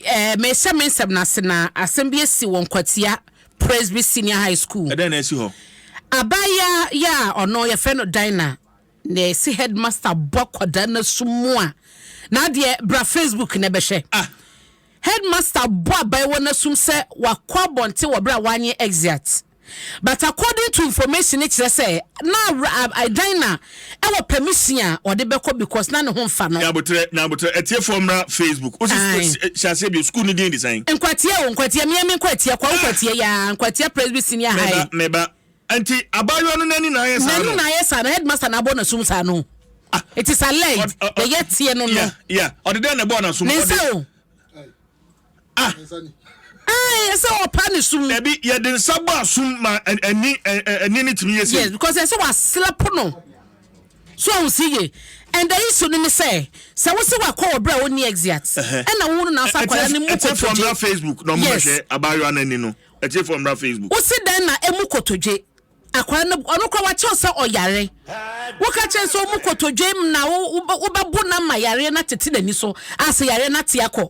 Eh, mehyɛ me nsɛm no ase na asɛm bi asi wɔ Nkwatia Presby Senior High School. Ɛdɛn na asi hɔ? Abaayewa yɛ a ɔno yɛfrɛ no Dinah na ɛsi headmaster bɔ akwadaa no asu mu a, na adeɛ bra Facebook na ɛbɛhwɛ. Ah. Headmaster bɔ abaayewa no asum sɛ wakɔ abɔnten wɔ berɛ a wanyɛ exeat. But according to information no kyerɛ sɛ na dan na ɛwɔ permission a ɔde bɛkɔ because na ne ho nfa no. Nyabotrɛ nyabotrɛ atiefoɔ mmra Facebook wosi hyɛ aseɛ bio school no din de sɛn. Nkwatia o nkwatia mia mi nkwatia kwa nkwatia yaa nkwatia presby senior high. Meba meba nti abaayewa no n'ani na ayɛ saa no. N'ani na ayɛ saa no headmaster na abɔ n'asum saa no. Ah. It is alleged yɛyɛ teɛ no no. Ɔde dɛn na ɛbɔ n'asum. Ne nsa o. Ah! Ɛɛ yɛ sɛ ɔpa ne sum. Dabi, yɛde nsa bɔ asum ma ani ani ne tumi yɛ sɛ. Yes, because ɛsɛ waslap no. So ɔn si ye. And the issue no ne sɛ, sɛ wo se wakɔ wɔ berɛ a ɔnni exit, ɛna wo no na afa akwadaa no mu kotodwe. Ɛtiefoɔ mmra Facebook na ɔmo bɛhwɛ abaayewa no ani no. Ɛtiefoɔ mmra Facebook. Wo se dɛn na emu kotodwe? Akwadaa no ɔno kora wakyɛw sɛ ɔyare. Woka kyerɛ sɛ ɔmu kotodwe na wobɛbo no ama yareɛ no atete n'ani so a sɛ yareɛ no ate akɔ.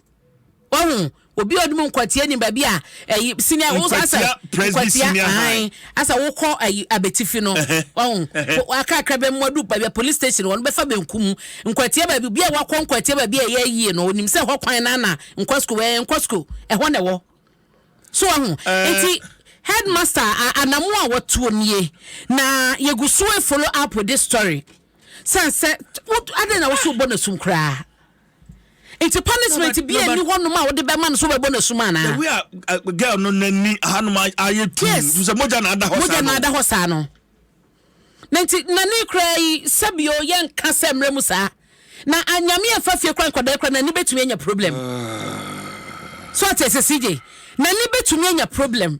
wahu obi a ɔde mu nkwatia ni baabi a ɛyi sini a wosɔ asɛ nkwatia ahan asɛ wokɔ ɛyi abetifi no ɔn akakra bɛ mu adu baabi a police station wɔn bɛfa bɛnku mu nkwatia baabi obi a wakɔ nkwatia baabi a ɛyɛ yie no onim sɛ ɛhɔ kwan na na nkɔ sukuu ɛyɛ nkɔ sukuu ɛhɔ na ɛwɔ so ɔho eti headmaster anamu a wɔtuo nie na yɛgu so follow up with this story sɛ sɛ adɛn na woso bɔ no sum koraa. nti punishment bi ɛni hɔ nom a wode bɛma no so bɛbɔ no asum anaa. the way a uh, girl no n'ani ahanom ayɛ tuu yes sɛ mogya na ada hɔ saa no mogya na ada hɔ saa no na nti na ne kura yi sɛbio yɛ nka sɛ mmerɛ mu saa na anyame ah, ɛfa fie kora nkɔdaa kora n'ani bɛtumi anya problem ah. so ɔte sɛ sigye n'ani bɛtumi anya problem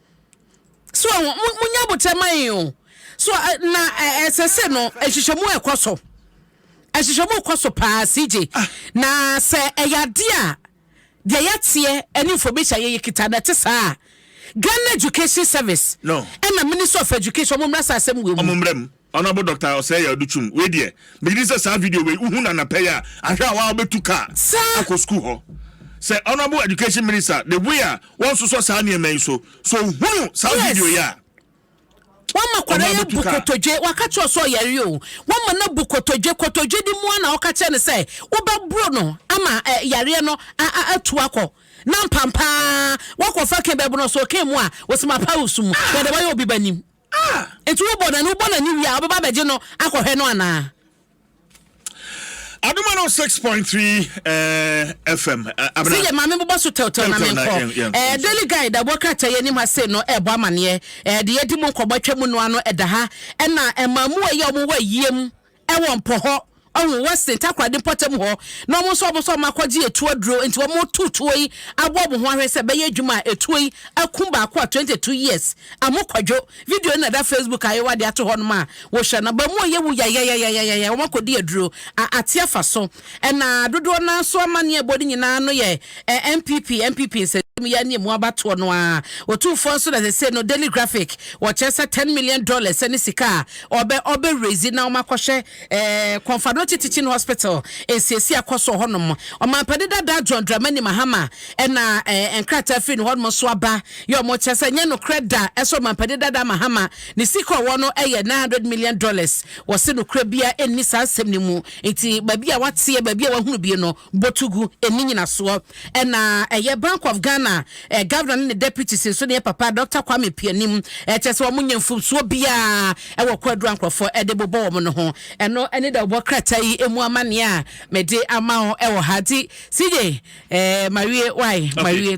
So wɔn mo mo nya abotire ma yɛn o. So ɛ na ɛ ɛsɛ sɛ no nhwehwɛmu ɛkɔ so. Nhwehwɛmu kɔ so paa CJ. Na sɛ ɛyɛ adeɛ a deɛ yɛteɛ ɛne information a yɛyɛ kita no ɛte saa a, Ghana Education Service No. ɛna Ministry of Education wɔn mmra saa asɛm wei mu. Wɔn mmra mu. Honourable Doctor Osei Aduchum, wei deɛ megye di sɛ saa video wei wohu no anapɛ yi a, ahwɛ a waa bɛtu kaa akɔ sukuu hɔ. Sɛ Honourable Education Minister, the way a wɔnsosɔ saa nneɛma yi so, sɛ ɔhunu saa video yi a, ɔno Wama akwadaa yi abɛtu abu kaa. kotodwe. Waka kyerɛ wo sɛ ɔyare o. Wama no abu kotodwe. Kotodwe de mu ara na woka kyerɛ no sɛ wobɛboro no ama ɛ, yareɛ no a, a, atu akɔ. Na mpampaa woakɔfa kee bɛboro no, sɛ ɔkee mu a, ɔse mapa wo so mu. Na deɛ wayɛ obi ba nim. Ah! Enti wobɔ no ɛno, wobɔ no ani wie a, wobɛba abɛgye no akɔhwɛ no anaa? Adom one oh six point three FM. Sɛ yɛ maame bobɔ so tɛwtɛw na menkɔ. Daily Guide ɛbɔ krataa yɛ anim ha sei no ɛbɔ amaneɛ. Ɛde yɛdi mu nkɔmmɔ atwa mu noa no ɛda ha. Ɛna ɛma mu ɛyɛ ɔmo wɔ ayie mu Ɛwɔ mpo hɔ, ɔho, Western, Takoradi mpɔtam hɔ, na ɔmo nso ɔmo nso ɔmo akɔgye etuo aduro, nti ɔmo reto tuo yi abɔ ɔmo ho ahwɛ sɛ ɛbɛyɛ adwuma a etuo yi akum baako a twenty two years amu kwadwo, video no na ɛda Facebook ayewa de ato hɔ nom a wohwɛ no aba mu a yɛwu yayayayayayaya, ɔmo akɔdi aduro a ate afa so. Ɛna dodoɔ no ara so amanneɛ ɛbɔ no nyinaa no yɛ eh, NPP, NPP nsɛsɛm yi ara ne ɛmu abatoɔ no ara. Otumfoɔ nso na sɛsei no Daily Graphic wɔkyerɛ sɛ ten million dollars ɛne sika a ɔbɛ ɔbɛ raise na wɔakɔhwɛ eh, Kɔnfadokye Teaching Hospital nsiesie akɔ so wɔ hɔnom. Ɔmampani dada John Dramani Mahama ɛna eh, nkrataa firi ne hɔnom nso aba yɛ wɔn kyerɛ sɛ nyɛ nokorɛ da ɛsɛ Ɔmampani dada Mahama ne sika ɔwɔ no ɛyɛ nine hundred million dollars. Wɔse nokorɛ biara ɛnni saa nsɛm no mu. Ntsi baabi a wɔatseɛ, baabi a wɔahunu bi no, botu gu ne nyinasoɔ. Nna ɛyɛ Bank of Ghana Governor ne ne Deputies nso ne yɛ papa Dɔkta Kwame Appiah nim, kyerɛ sɛ wɔnnyɛ mfomsoɔ biara wɔ kwaduro a nkorɔfoɔ de bobɔ wɔn no ho. Ɛno ne deɛ wɔbɔ krataa yi mu amanneɛ a mede ama wo wɔ ha. Nti CJ, mawie, wai, mawie.